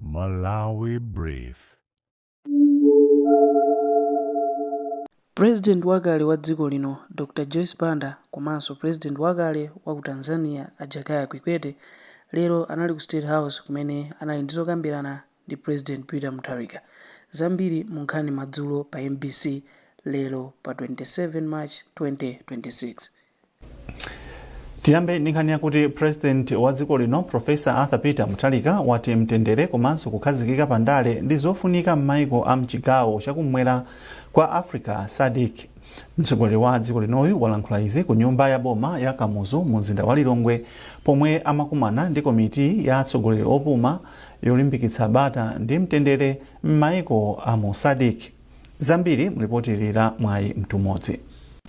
Malawi Brief. President wakale wa dziko lino, Dr Joyce Banda komanso President wakale wa ku Tanzania a Jakaya Kikwete lero anali ku State House kumene anali ndi zokambirana ndi President Peter Mutharika. Zambiri mu nkhani madzulo pa mbc lero pa 27 March 2026. Tiyambe ndi nkhani yakuti President wa dziko lino Professor Arthur Peter Mutharika wati mtendere komanso kukhazikika pa ndale ndi zofunika m'maiko a mchigawo chakummwera kwa Africa SADC. Mtsogoleri wa dziko linoyu walankhula izi ku nyumba ya boma ya Kamuzu mu mzinda wa Lilongwe pomwe amakumana ndi komiti ya atsogoleri opuma yolimbikitsa bata ndi mtendere m'maiko a mu SADC. Zambiri mlipoti ili la Mwayi Mtumodzi.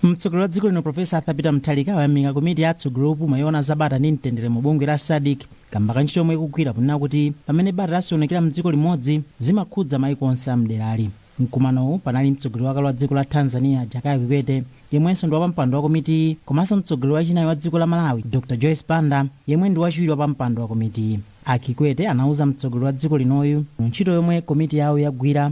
Mtsogoleri wa dziko lino Professor Arthur Peter Mutharika wayamika komiti ya atsogoleri opuma yoona za bata ndi mtendere mu bungwe la SADC kamba ka ntchito yomwe ikugwira ponena kuti pamene bata lasokonekera mdziko limodzi zimakhudza maiko onse a mderali. Mkumanowu panali mtsogoleri wakale wa dziko la Tanzania Jakaya Kikwete yemwenso ndi wapampando wa komitiyi komanso mtsogoleri wachinayi wa dziko la Malawi Dr Joyce Banda yemwe ndi wachiwiri wa pampando wa komitiyi. A Kikwete anauza mtsogoleri wa dziko linoyu ntchito yomwe komiti yawo yagwira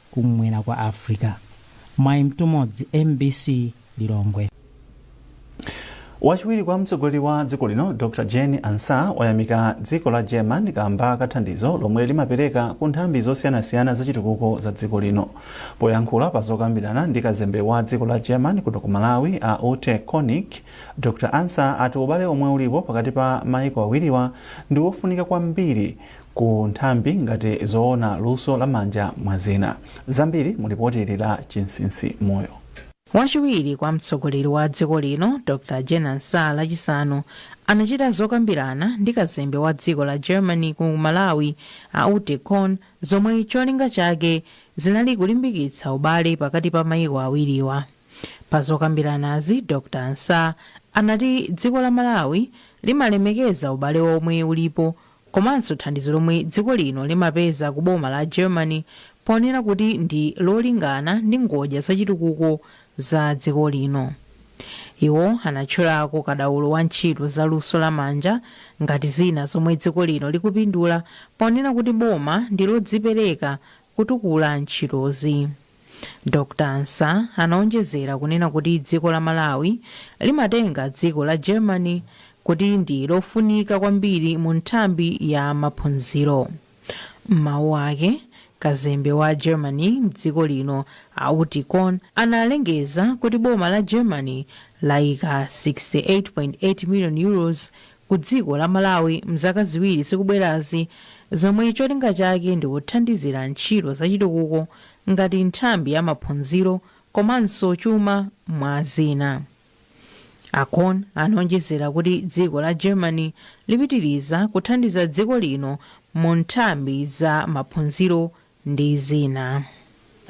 kum'mwera kwa Africa. Mwayi Mtumodzi, mbc Lilongwe. Wachiwiri kwa mtsogoleri wa dziko lino Dr Jane Ansah wayamika dziko la German kamba ka thandizo lomwe limapereka ku nthambi zosiyanasiyana za chitukuko za dziko lino. Poyankhula pa zokambirana ndi kazembe wa dziko la German kuno ku Malawi a Ute Konig, Dr Ansah ati ubale omwe ulipo pakati pa maiko awiriwa ndi wofunika kwambiri ku nthambi ngati zoona luso la manja mwa zina. Zambiri mu lipoti ili la Chinsinsi moyo. Wachiwiri kwa mtsogoleri wa dziko lino, Dr Jane Ansah lachisanu anachita zokambirana ndi kazembe wa dziko la Germany ku Malawi a Ute Konig zomwe cholinga chake zinali kulimbikitsa ubale pakati pa maiko awiriwa. Pa zokambiranazi, Dr Ansah anati dziko la Malawi limalemekeza ubale omwe ulipo komanso thandizo lomwe dziko lino limapeza ku boma la Germany ponena kuti ndi lolingana ndi ngodya za chitukuko za dziko lino. Iwo anatchulako kadaulo wa ntchito za luso la manja ngati zina zomwe dziko lino likupindula ponena kuti boma ndi lodzipereka kutukula ntchitozi. Dr Ansah anaonjezera kunena kuti dziko la Malawi limatenga dziko la Germany kuti ndi lofunika kwambiri mu nthambi ya maphunziro. M'mawu ake, kazembe wa Germany m'dziko lino a Ute Konig analengeza kuti boma la Germany laika 68.8 million Euros ku dziko la Malawi mzaka ziwiri zikubwerazi zomwe cholinga chake ndi kuthandizira ntchito za chitukuko ngati nthambi ya maphunziro komanso chuma mwa zina. A Kon anaonjezera kuti dziko la Germany lipitiliza kuthandiza dziko lino mu nthambi za maphunziro ndi zina.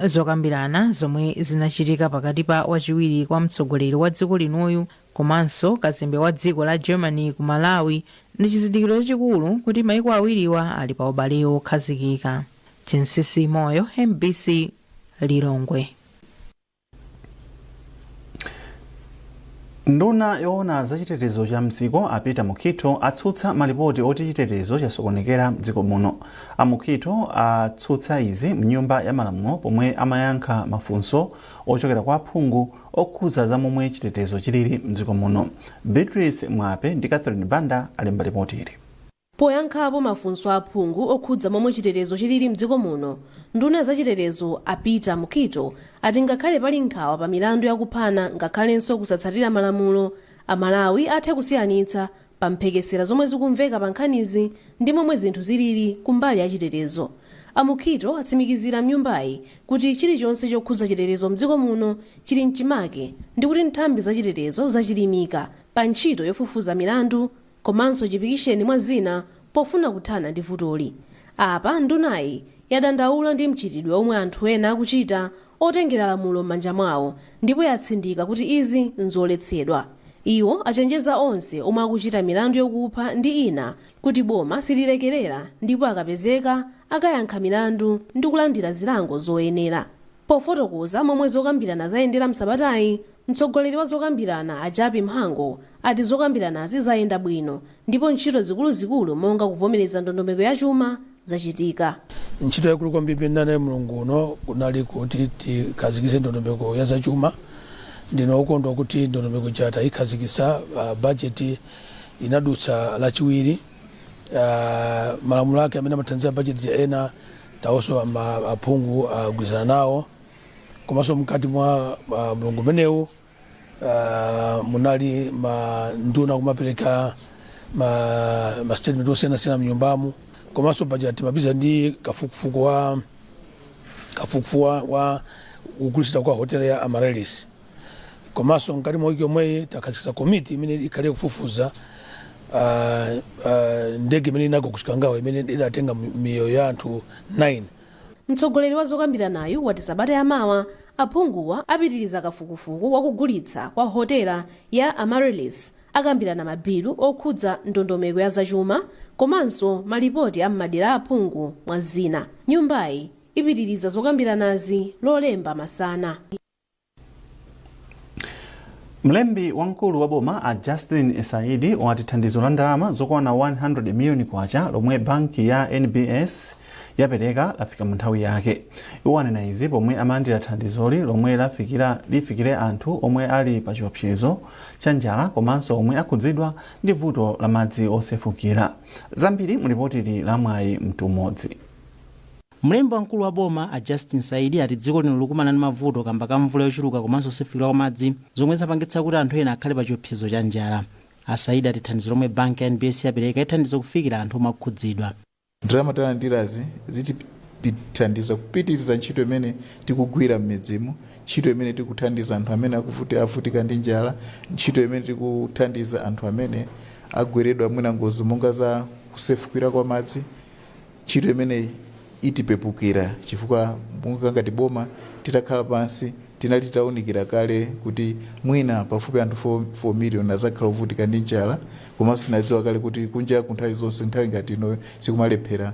Zokambirana zomwe zinachitika pakati pa wachiwiri kwa mtsogoleri wa dziko linoyu komanso kazembe wa dziko la Germany ku Malawi ndi chizindikiro chachikulu kuti maiko awiriwa ali pa ubale wokhazikika. Chinsinsi Moyo, mbc, Lilongwe. nduna yoona za chitetezo cha mdziko a peter mukhitho atsutsa malipoti oti chitetezo chasokonekera mdziko muno a mukhitho atsutsa izi mnyumba ya malamulo pomwe amayankha mafunso ochokera kwa aphungu okhudza za momwe chitetezo chilili mdziko muno beatrice mwape ndi catherine banda alemba lipoti ili Poyankhapo mafunso a aphungu okhudza momwe chitetezo chilili mdziko muno, nduna ya zachitetezo a Peter Mukhito ati ngakhale pali nkhawa pa milandu ya kuphana ngakhalenso kusatsatira malamulo, Amalawi athe kusiyanitsa pa mphekesera zomwe zikumveka pa nkhanizi ndi momwe zinthu zilili ku mbali ya chitetezo. A Mukhito atsimikizira mnyumbayi kuti chilichonse chokhudza chitetezo mdziko muno chili mchimake ndikuti nthambi za chitetezo zachilimika pa ntchito yofufuza milandu komanso chipikisheni mwa zina pofuna kuthana ndi vutoli. Apa ndunayi yadandaula ndi mchitidwe omwe anthu ena akuchita otengera lamulo m'manja mwawo ndipo yatsindika kuti izi nzoletsedwa. Iwo achenjeza onse omwe akuchita milandu yokupha ndi ina kuti boma sililekerera ndipo akapezeka akayankha milandu ndikulandira zilango zoyenera. Pofotokoza momwe zokambirana zayendera m'sabatayi, Mtsogoleri wa zokambirana a Jappie Mhango ati zokambiranazi zayenda bwino ndipo ntchito zikuluzikulu monga kuvomereza ndondomeko ya chuma zachitika. Ntchito yaikulu kwambiri imene tinali nayo mlungu uno kunali kuti tikhazikitse ndondomeko ya zachuma. Ndine wokondwa kuti ndondomeko ija tayikhazikitsa, bajeti inadutsa Lachiwiri. Malamulo ake amene amathandiza bajeti ija ena nawonso aphungu agwirizana nawo. komanso mkati mwa ah, mlungu umenewu ah, munali manduna kumapereka ma, ma statement osiyanasiyana mnyumbamu komanso paja timapeza ndi kafukufuku wa kafukufuku wa- wa kugulitsidwa kwa hotel ya amaryllis komanso mkati mwa wiki yomweyi takhazikitsa komiti imene ikhale kufufuza ah, ah, ndege imene inagwa ku chikangawa imene idatenga mi- miyoyo ya anthu 9 Mtsogoleri wa zokambiranayu wati sabata ya mawa aphunguwa apitiliza kafukufuku wa kugulitsa kwa hotela ya Amaryllis, akambirana ma bilu okhudza ndondomeko ya zachuma komanso ma lipoti a m'madera a aphungu mwa zina. Nyumbayi ipitiliza zokambiranazi lolemba masana. Mlembi wamkulu wa boma a Justin Saidi wati thandizo la ndalama zokwana 100 miliyoni kwacha lomwe banki ya NBS yapereka lafika mu nthawi yake. Iwo anena izi pomwe amalandira thandizoli lomwe lifikire anthu omwe ali pa chiopsezo cha njala komanso omwe akhudzidwa ndi vuto la madzi osefukira. Zambiri mu lipotili la Mwayi Mtumodzi. Mlembi wamkulu wa boma, a Justin Saidi, ati dziko lino likukumana ndi mavuto kamba ka mvula yochuluka komanso osefukira kwa madzi zomwe zapangitsa kuti anthu ena akhale pa chiopsezo cha njala. A Saidi ati thandizo lomwe banki ya NBS yapereka ithandiza kufikira anthu omwe akhudzidwa. Ndalama talandirazi zitithandiza kupitiriza ntchito imene tikugwira m'midzimu, ntchito imene tikuthandiza anthu amene avutika ndi njala, ntchito imene tikuthandiza anthu amene agweredwa mwina ngozi monga za kusefukira kwa madzi. Ntchito imene itipepukira chifukwa monga ngati boma titakhala pansi tinali titaunikira kale kuti mwina pafupi anthu 4 million adzakhala ovutika ndi njala komanso tinadziwa kale kuti kunjaku nthawi zonse nthawi ngati ino sikumalephera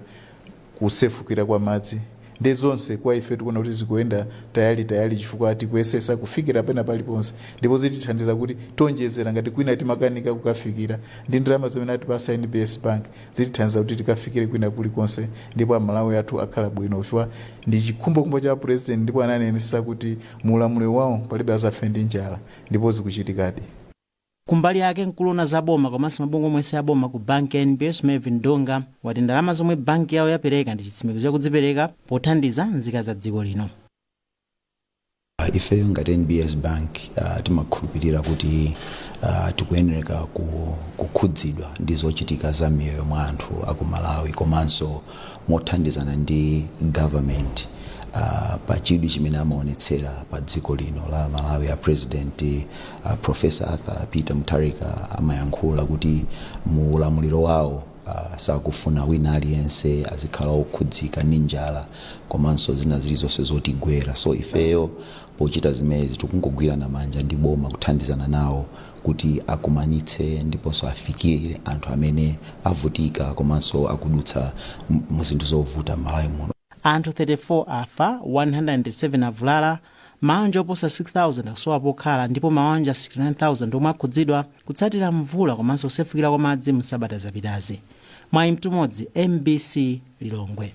kusefukira kwa madzi ndiye zonse kwa ife tikuona kuti zikuyenda tayale tayale chifukwa tikuyesesa kufikira pena paliponse ndipo zitithandiza kuti tionjezera ngati kwina timakanika kukafikira ndi ndalama zimene atipasa NBS Bank zitithandiza kuti tikafikire kwina kulikonse ndipo amalawi athu akhala bwino chifukwa ndi chikhumbokhumbo cha president ndipo ananenesa kuti mu ulamuliro wawo palibe azafe ndi njala ndipo zikuchitikadi. Kumbali yake, mkulu owona za boma komanso mabungwe omwe si aboma ku banki ya NBS Mervin Donga wati ndalama zomwe banki yawo yapereka ndi chitsimikizo cha kudzipereka pothandiza nzika za dziko lino. Ifeyo ngati NBS Bank timakhulupilira kuti tikuyenereka kukhudzidwa ndi zochitika za miyoyo mwa anthu aku Malawi komanso mothandizana ndi government pa chidwi chimene amaonetsera pa dziko lino la Malawi. A President Prof. Arthur Peter Mutharika amayankhula kuti mu ulamuliro wawo, Sakufuna wina aliyense azikhala okhudzika ndi njala komanso zina zilizonse zotigwera. So ifeyo pochita zimezi tikungogwirana manja ndi boma kuthandizana nawo kuti akumanitse ndiponso afikire anthu amene avutika komanso akudutsa mu zinthu zovuta m'Malawi muno. Anthu 34 afa, 107 avulala, Mawanja oposa 6,000 akusowa pokhala ndipo mawanja 69,000 omwe akhudzidwa kutsatira mvula komanso kusefukira kwa madzi mu sabata zapitazi. Mwayi Mtumodzi, mbc, Lilongwe.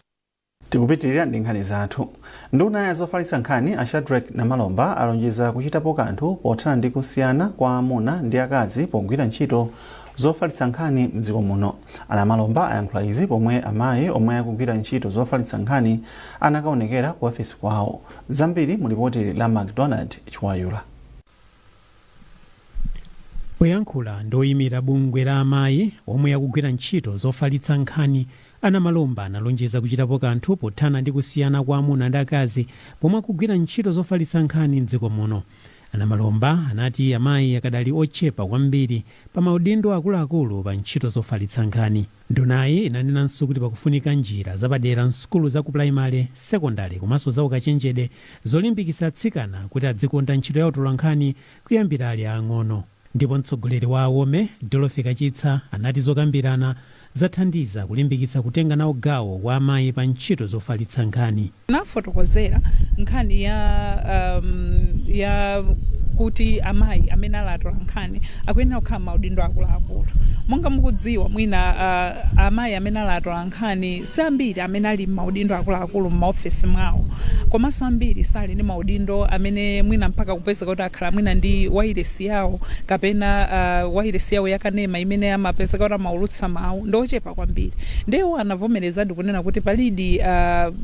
Tikupitilira ndi nkhani zathu. Nduna ya zofalitsa nkhani a Shadric Namalomba alonjeza kuchitapo kanthu pothana ndi kusiyana kwa amuna ndi akazi pogwira ntchito zofalitsa nkhani mdziko muno. A Namalomba ayankhula izi pomwe amayi omwe akugwira ntchito zofalitsa nkhani anakaonekera ku ofesi kwawo. Zambiri mu lipoti la Macdonald Chiwayula. Poyankhula ndi oyimira bungwe la amayi omwe akugwira ntchito zofalitsa nkhani, a Namalomba analonjeza kuchitapo kanthu pothana ndi kusiyana kwa amuna ndi akazi pomwe akugwira ntchito zofalitsa nkhani m'dziko muno. A Namalomba anati amayi akadali ochepa kwambiri pa maudindo akuluakulu pa ntchito zofalitsa nkhani. Ndunayi inanenanso kuti pakufunika njira zapadera m'sukulu za kupulayimale, sekondale komanso zaukachenjede zolimbikitsa atsikana kuti adzikonda ntchito ya utolankhani kuyambira ali aang'ono. Ndipo mtsogoleri wa Awome, Dorothy Kachitsa anati zokambirana zathandiza kulimbikitsa kutenga nawo gawo wa amayi pa ntchito zofalitsa nkhani. nafotokozera nkhani ya um, ya kuti amayi amene ali atolankhani akuyenera kukhala maudindo akuluakulu monga mukudziwa mwina uh, amayi amene ali atolankhani si ambiri amene ali maudindo akuluakulu m'maofesi mwawo komanso ambiri sali ndi maudindo amene mwina mpaka kupezeka kuti akhala mwina ndi wailesi yawo kapena uh, wailesi yawo yakanema imene amapezeka kuti amaulutsa mawu ndi ochepa kwambiri nde iwo anavomerezadi kunena kuti palidi uh,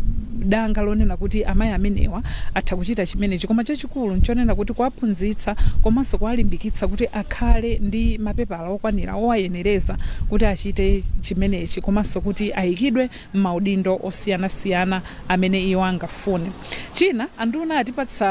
danga lonena kuti amayi amenewa atha kuchita chimenechi koma chachikulu nchonena kuti kuwaphunzitsa komanso kuwalimbikitsa kuti akhale ndi mapepala okwanira owayenereza kuti achite chimenechi komanso kuti ayikidwe m'maudindo osiyanasiyana amene iwo angafune china anduna atipatsa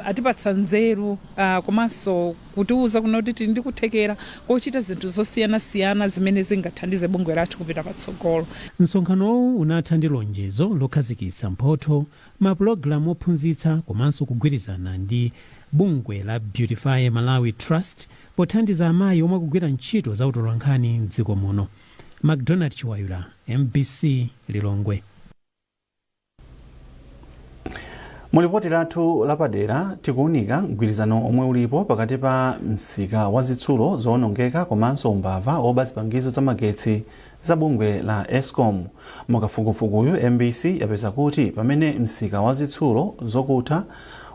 uh, atipatsa nzeru uh, komanso kutiuza kunena kuti tili ndi kuthekera kochita zinthu zosiyanasiyana zimene zingathandize bungwe lathu kupita patsogolo. Msonkhanowu unatha ndi lonjezo lokhazikitsa mphotho, mapulogalamu ophunzitsa komanso kugwirizana ndi bungwe la Beautify Malawi Trust pothandiza amayi omwe akugwira ntchito za utolankhani m'dziko muno. Macdonald Chiwayula, mbc, Lilongwe. mu lipoti lathu lapadera tikuunika mgwirizano omwe ulipo pakati pa msika wa zitsulo zowonongeka komanso umbava woba zipangizo za magetsi za bungwe la escom mukafukufukuyu mbc yapeza kuti pamene msika wa zitsulo zokutha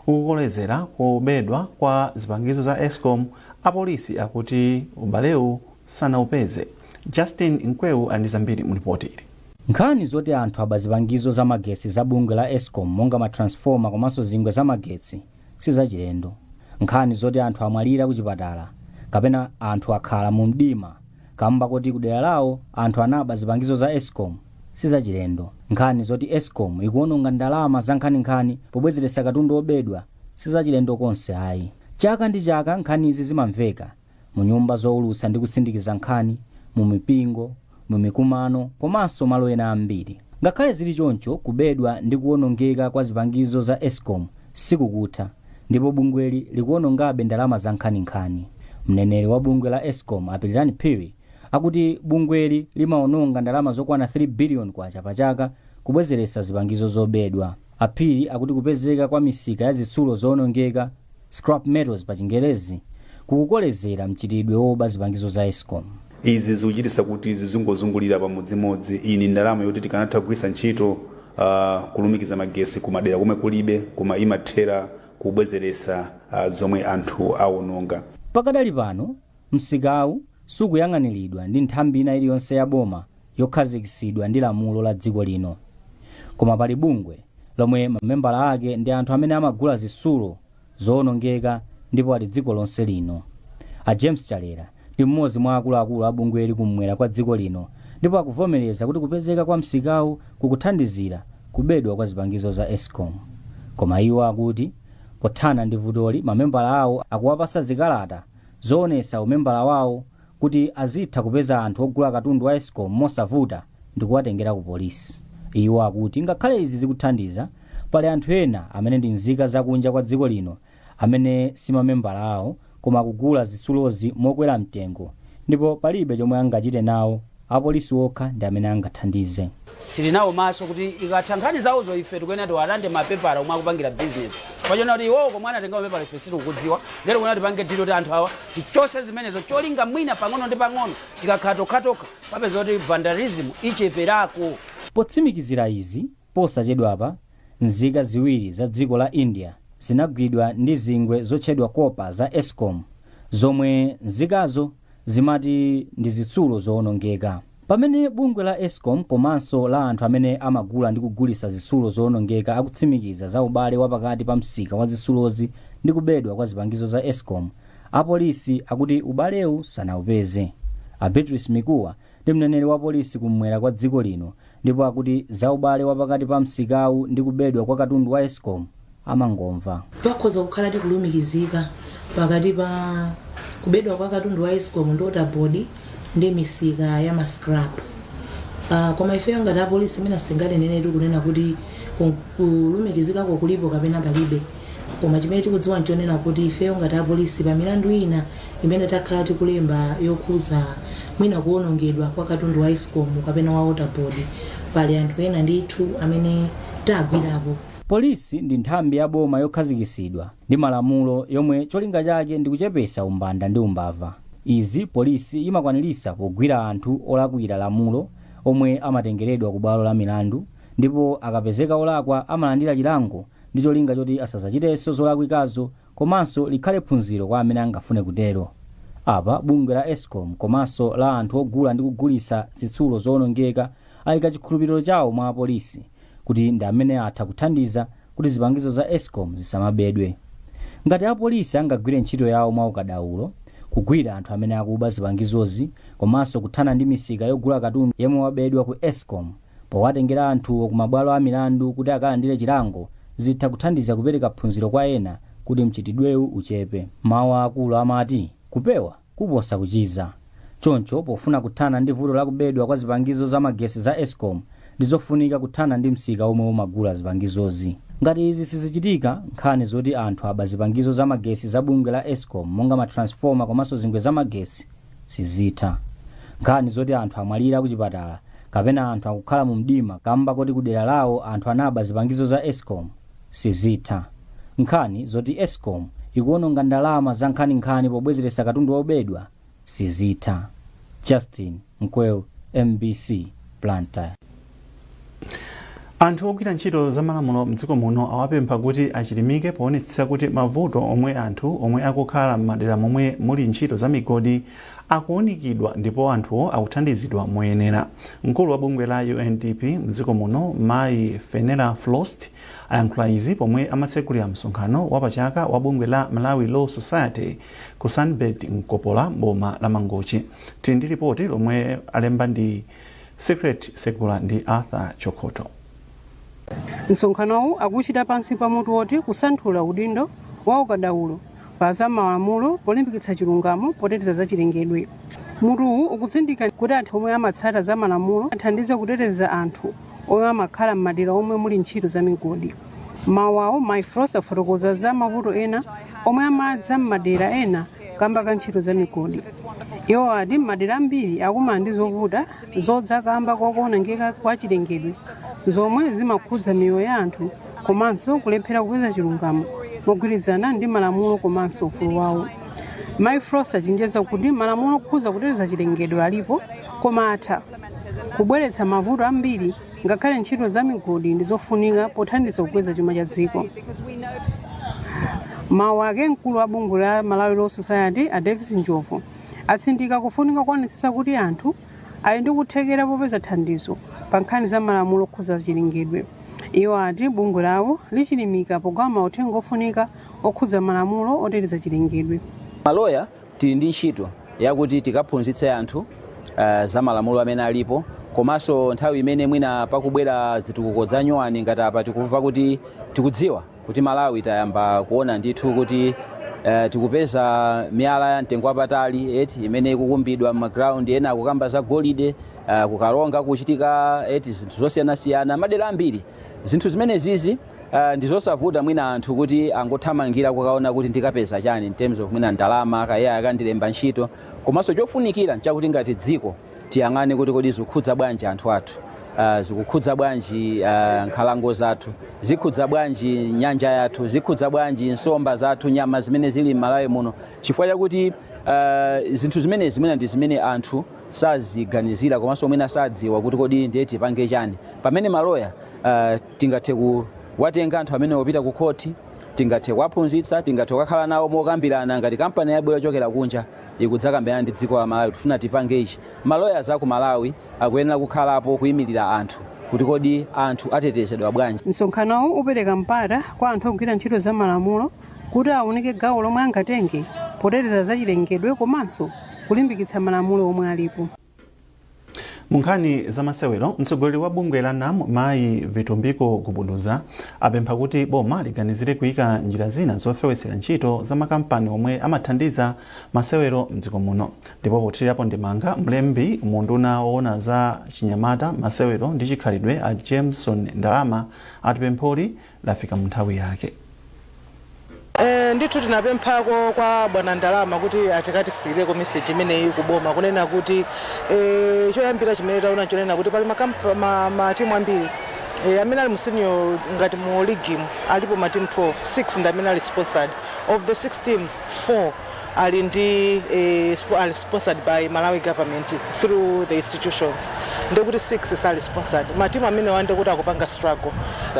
ukukolezera kubedwa kwa zipangizo za escom apolisi akuti ubalewu sanaupeze justin mkweu ali ndi zambiri mu lipoti ili Nkhani zoti anthu aba zipangizo za magetsi za bungwe la escom monga ma transformer komanso zingwe za magetsi sizachilendo. Nkhani zoti anthu amwalira kuchipatala kapena anthu akhala mu mdima kamba koti kudera lawo anthu anaba zipangizo za escom sizachilendo. Nkhani zoti escom ikuononga ndalama zankhaninkhani pobwezeretsa katundu obedwa sizachilendo konse ayi. Chaka ndi chaka nkhanizi zimamveka mu nyumba zoulutsa ndi kusindikiza nkhani, mu mipingo, mu mikumano, komanso malo ena ambiri. Ngakhale zili choncho, kubedwa ndi kuwonongeka kwa zipangizo za escom sikukutha, ndipo bungweli likuwonongabe ndalama zankhaninkhani. Mneneri wa bungwe la escom, a Pilirani Phiri, akuti bungweli limawononga ndalama zokwana 3 biliyoni kwacha pachaka kubwezeretsa zipangizo zobedwa. A Phiri akuti kupezeka kwa misika ya zitsulo zoonongeka, scrap metals pa chingerezi, kukukolezera mchitidwe woba zipangizo za escom. Izi zikuchititsa kuti zizingozungulira pamodzimodzi, iyi ndi ndalama yoti tikanatha kugwiritsa ntchito kulumikiza magetsi ku madera komwe kulibe koma imathera kubwezeretsa zomwe anthu awononga. Pakadali pano, Msikawu sukuyang'aniridwa ndi nthambi ina iliyonse ya boma yokhazikitsidwa ndi lamulo la dziko lino. Koma pali bungwe lomwe mamembala ake ndi anthu amene amagula zitsulo zowonongeka ndipo ali dziko lonse lino. A James Chalera ndi mmodzi mwa akuluakulu a bungweli kummwera kwa dziko lino ndipo akuvomereza kuti kupezeka kwa msikawu kukuthandizira kubedwa kwa zipangizo za escom. Koma iwo akuti pothana ndi vutoli mamembala awo akuwapatsa zikalata zoonetsa umembala wawo kuti azitha kupeza anthu ogula katundu wa escom mosavuta ndikuwatengera ku polisi. Iwo akuti ngakhale izi zikuthandiza, pali anthu ena amene ndi nzika za kunja kwa dziko lino amene si mamembala awo koma akugula zitsulozi mokwera mtengo ndipo palibe chomwe angachite nawo Apolisi okha ndi amene angathandize. Tili nawo maso kuti ikatha nkhani zawozo ife tikuyenera tiwalande mapepala omwe akupangira business chifukwa chonena kuti iwowo komwe anatenga mapepala ife sitikukudziwa ndiye tikuyenera tipange deal yoti anthu awa tichotse zimenezo cholinga mwina pang'ono ndi pang'ono tikakhala tokhatokha papezeka kuti vandalism icheperako. Potsimikizira izi, posachedwapa nzika ziwiri za dziko la India zinagwidwa ndi zingwe zotchedwa kopa za escom zomwe nzikazo zimati ndi zitsulo zowonongeka. Pamene bungwe la Escom komanso la anthu amene amagula ndi kugulitsa zitsulo zowonongeka akutsimikiza za ubale wa pakati pa msika wa zitsulozi ndi kubedwa kwa zipangizo za Escom, apolisi akuti ubalewu sanaupeze. A Beatrice Mikuwa ndi mneneri wa polisi kummwera kwa dziko lino Ndipo akuti za ubale wa pakati pa msikawu ndi kubedwa kwa katundu wa Escom amangomva. Pakhoza kukhaladi kulumikizika pakati pa kubedwa kwa katundu wa Escom ndi Waterboard ndi misika ya ma scrap. Uh, koma ifeyo ngati apolisi mwina sitinganeneretu kunena kuti ku- kulumikizikako kulipo kapena palibe. Koma chimene tikudziwa n'chonena kuti ifeyo ngati apolisi, pa milandu ina imene takhala tikulemba yokhudza mwina kuwonongedwa kwa katundu wa Escom kapena wa Water Board, pali anthu ena ndithu amene tagwirapo. Polisi ndi nthambi ya boma yokhazikitsidwa ndi malamulo yomwe cholinga chake ndi kuchepetsa umbanda ndi umbava. Izi polisi imakwaniritsa pogwira anthu olakwira lamulo omwe amatengeredwa kubwalo la milandu ndipo akapezeka olakwa amalandira chilango ndi cholinga choti asadzachitenso zolakwikazo komanso likhale phunziro kwa amene angafune kutero. Apa, bungwe la Escom komanso la anthu ogula ndi kugulitsa zitsulo zowonongeka ayika chikhulupiriro chawo mwa apolisi kuti ndi amene atha kuthandiza kuti zipangizo za Escom zisamabedwe. Ngati apolisi angagwire ntchito yawo mwaukadaulo, kugwira anthu amene akuba zipangizozi komanso kuthana ndi misika yogula katundu yemwe wabedwa ku Escom, Powatengera anthuwo kumabwalo a milandu kuti akalandire chilango zitha kuthandiza kupereka phunziro kwa ena kuti mchitidwewu uchepe. Mawu a akulu amati, Kupewa kuposa kuchiza. Choncho, pofuna kuthana ndi vuto la kubedwa kwa zipangizo za magesi za escom ndizofunika kuthana ndi msika omwe umagula zipangizozi. Ngati izi sizichitika, nkhani zoti anthu aba zipangizo za magesi za bungwe la escom monga ma transformer komanso zingwe za magesi, sizitha. Nkhani zoti anthu amwalira kuchipatala kapena anthu akukhala mu mdima kamba koti kudera lawo anthu anaba zipangizo za escom sizitha. Nkhani zoti escom ikuononga ndalama zankhaninkhani pobwezeretsa katundu obedwa sizitha. Justin Mkweu, mbc, Blantyre. anthu ogwira ntchito za malamulo mdziko muno awapempha kuti achilimike poonetsetsa kuti mavuto omwe anthu omwe akukhala m'madera momwe muli ntchito za migodi akuunikidwa ndipo anthuwo akuthandizidwa moyenera mkulu wa bungwe la undp mdziko muno mayi fenella frost ayankhula izi pomwe amatsekulira msonkhano wapachaka wa bungwe la malawi law society ku sunbird nkopola boma la mangochi tili ndi lipoti lomwe alemba ndi Secret Segula ndi Arthur Chokhotho. Msonkhanowu akuuchita pansi pa mutu woti Kusanthula Udindo wa Ukadaulo pa za Malamulo Polimbikitsa Chilungamo Poteteza Zachilengedwe. Mutuwu ukutsindika kuti anthu omwe amatsata za malamulo athandize kuteteza anthu omwe amakhala m'madera omwe muli ntchito za migodi. M'mawu awo, Mayi Frost afotokoza za mavuto ena omwe amadza m'madera ena kamba ka ntchito za migodi iwo ati m'madera ambiri akumana ndi zovuta zodza kamba ka kuonongeka kwa chilengedwe zomwe zimakhudza miyoyo ya anthu komanso kulephera kupeza chilungamo mogwirizana ndi malamulo komanso ufulu wawo mayi frost achenjeza kuti malamulo okhudza kuteteza chilengedwe alipo koma atha kubweretsa mavuto ambiri Ngakhale ntchito za migodi ndi zofunika pothandiza kukweza chuma cha dziko. M'mawu ake mkulu wa bungwe la Malawi Law Society a Davis Njobvu atsindika kufunika kuonetsetsa kuti anthu ali ndi kuthekera popeza thandizo pa nkhani za malamulo okhuza chilengedwe. Iwo ati bungwe lawo lichilimika pogawa mauthenga ofunika okhudza malamulo oteteza chilengedwe. Maloya Tili ndi ntchito yakuti tikaphunzitse anthu za malamulo amene alipo komanso nthawi imene mwina pakubwera zitukuko za nyuwani ngati apa tikumva kuti tikudziwa kuti Malawi tayamba kuona ndithu kuti tikupeza miyala ya mtengo wapatali eti imene ikukumbidwa m'ma ground ena akukamba za golide ku Karonga kuchitika eti zinthu zosiyanasiyana madera ambiri zinthu zimene zizi Uh, ndizosavuta mwina anthu kuti angothamangira kukaona kuti ndikapeza chani in terms of mwina ndalama kaya akandilemba ntchito komanso chofunikira nchakuti ngati dziko tiyang'ane kuti kodi zikukhudza bwanji anthu athu uh, zikukhudza bwanji uh, nkhalango zathu zikhudza bwanji nyanja yathu zikhudza bwanji nsomba zathu nyama zimene zili m'Malawi muno chifukwa chakuti uh, zinthu zimenezi mwina ndi zimene anthu saziganizira komanso mwina sadziwa kuti kodi ndiye tipange chani pamene maloya uh, Tingathe kuwatenga anthu amenewa kupita kukhoti, tingathe kuwaphunzitsa, tingathe kukakhala nawo mokambirana ngati kampani yabwera yochokera kunja ikudzakambirana ndi dziko la Malawi kuti tifuna tipange ichi. Ma lawyers aku Malawi akuyenera kukhalapo kuimirira anthu kuti kodi anthu atetezedwa bwanji. Msonkhanowu upereka mpata kwa anthu ogwira ntchito za malamulo kuti aunike gawo lomwe angatenge poteteza zachilengedwe komanso kulimbikitsa malamulo omwe alipo. Mu nkhani za masewero, mtsogoleri wa bungwe la NAM mayi Vitumbiko Gubuduza apempha kuti boma liganizire kuika njira zina zofewetsera ntchito za makampani omwe amathandiza masewero mdziko muno. Ndipo pothirapo ndemanga, mlembi mu unduna woona za chinyamata, masewero ndi chikhalidwe a Jameson Ndalama ati pempholi lafika mu nthawi yake. Eee ndithu tinapemphako kwa bwana Ndalama kuti akatisiyireko message imeneyi ku boma kunena kuti ee choyambira chimene taona nchonena kuti pali ma kamp- ma, ma timu ambiri ee amene ali mu senior ngati mu league mu alipo ma timu 12 6 ndi amene ali sponsored of the 6 teams 4 ali ndi eh, ali sponsored by Malawi government through the institutions ndekuti 6 sali sponsored matimu amenewa ndekuti akupanga struggle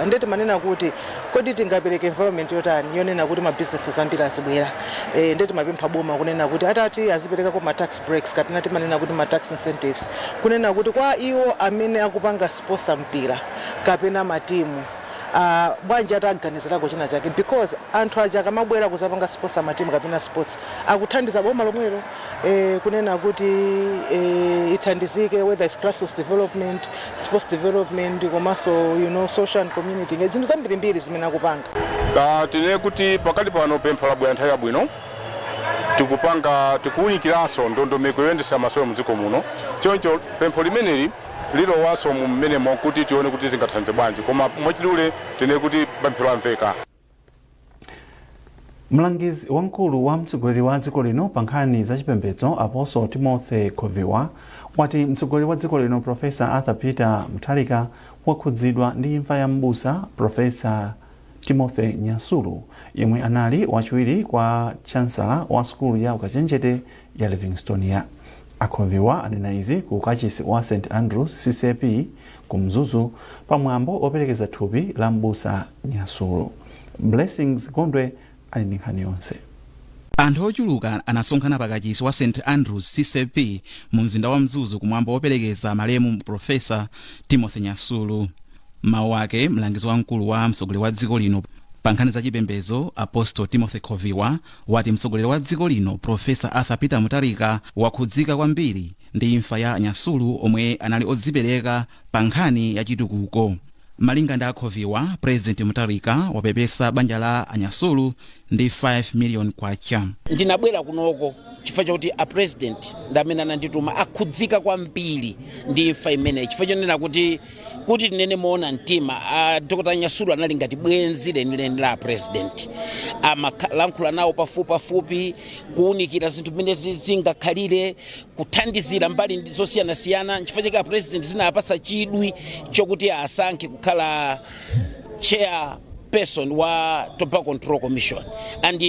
nde timanena kuti kodi tingapereke environment yotani yonena kuti ma businesses ambiri azibwera eh, nde timapempha boma kunena kuti atati aziperekako ma tax breaks kapena timanena kuti ma tax incentives kunena kuti kwa iwo amene akupanga sponsor mpira kapena matimu Aaa bwanji ataganizirako china chake because anthu aja akamabwera kuzapanga sponsor matimu kapena sports akuthandiza boma lomwelo ee kunena kuti ee ithandizike whether it's grassroots development, sports development komanso you know social and community engage zinthu zambirimbiri zimene akupanga. Aaa tinene kuti pakali pano pempho labwera nthawi yabwino tikupanga tikuwunikiranso ndondomeko yoyendetsera masewero mdziko muno choncho pempho limeneli lilowanso mu m'menemo kuti tione kuti zingathandize bwanji koma mwachidule tinene kuti pempho lamveka. Mlangizi wamkulu wa mtsogoleri wa dziko lino pa nkhani za chipembedzo Apostle Timothy Khoviwa wati mtsogoleri wa dziko lino Professor Arthur Peter Mutharika wakhudzidwa ndi imfa ya m'busa Professor Timothy Nyasulu yemwe anali wachiwiri kwa chansala wa sukulu ya ukachenjede ya Livingstonia. A Khoviwa anena izi ku kachisi wa St Andrews ccap ku Mzuzu pa mwambo operekeza thupi la m'busa Nyasulu. Blessings Gondwe ali ndi nkhani yonse. Anthu ochuluka anasonkhana pa kachisi wa St Andrews ccap mu mzinda wa Mzuzu ku mwambo operekeza malemu Professor Timothy Nyasulu. M'mawu ake, mlangizi wamkulu wa mtsogoleri wa dziko lino pa nkhani za chipembedzo Apostle Timothy Khoviwa, wati mtsogoleri wa dziko lino Professor Arthur Peter Mutharika wakhudzika kwambiri ndi imfa ya anyasulu omwe anali odzipereka pa nkhani ya chitukuko. Malinga ndi akhoviwa, President Mutharika wapepesa banja la anyasulu ndi 5 million kwacha. ndinabwera kunoko chifukwa chakuti a president ndi amene anandituma akhudzika kwambiri ndi imfa imeneyi chifukwa chonena kuti kuti tinene moona mtima a dr nyasulu anali ngati bwenzi lenileni la a president amalankhula nawo pafupipafupi kuwunikira zinthu mmene zi- zingakhalire kuthandizira mbali ndi- zosiyanasiyana nchifukwa chake a president zinawapatsa chidwi chokuti asankhe kukhala chair person wa tobacco control commission and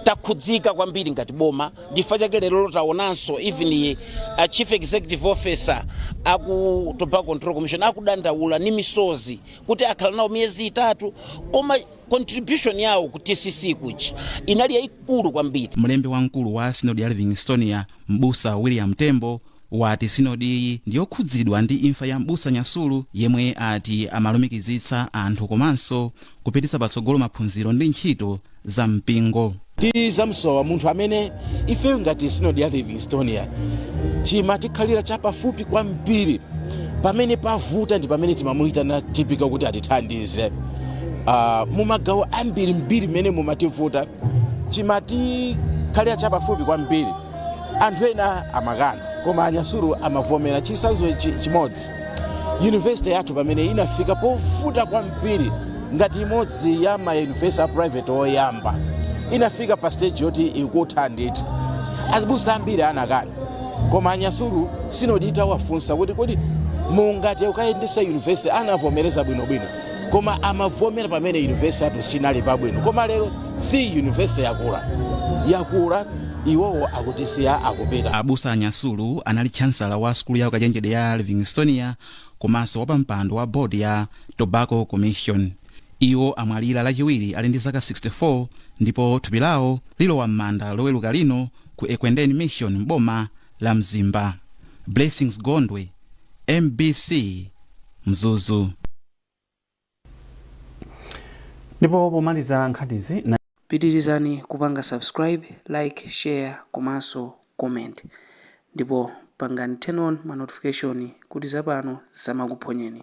takhudzika kwambiri ngati boma nchifukwa chake lero taonanso even a chief executive officer aku tobacco control commission akudandaula ni misozi kuti akhala nawo miyezi itatu koma contribution yawo ku tcc kuja inali yayikulu kwambiri mlembi wamkulu wa sinodi ya livingstonia m'busa william tembo wati sinodiyi ndiyokhudzidwa ndi imfa ya m'busa nyasulu yemwe ati amalumikizitsa anthu komanso kupititsa patsogolo maphunziro ndi ntchito za mpingo tizamsowa munthu amene ifeyo ngati sinodi ya livingstonia chimatikhalira chapafupi kwambiri pamene pavuta ndi pamene timamuyitana tipika kuti atithandize uh, mumagawo ambiri mbiri mmene mumativuta chimatikhalira chapafupi kwambiri anthu ena amakana koma a nyasulu amavomera chitsanzo chi- chimodzi yunivesite yathu pamene inafika povuta kwambiri ngati imodzi ya mayunivesite a private oyamba inafika pa stage yoti ikutha ndithu azibusa ambiri anakana koma a nyasulu sinodi itawafunsa kuti kodi mungathe kukayendetsa yunivesite anavomereza bwinobwino koma anavomera pamene university yathu siinali pabwino koma lero si university yakula yakula iwowo akutisiya akupita abusa a nyasulu anali chancellor wa sukulu ya ukachenjede ya livingstonia komanso wapampando wa board ya tobacco commission iwo amwalira lachiwiri ali ndi zaka 64 ndipo thupi lawo lilowa m'manda loweruka lino ku ekwendeni mission m'boma la mzimba blessings gondwe mbc mzuzu ndipo pomaliza nkhanizi pitirizani kupanga subscribe like share komanso comment ndipo pangani turn on ma notification kuti zapano zisamakuphonyeni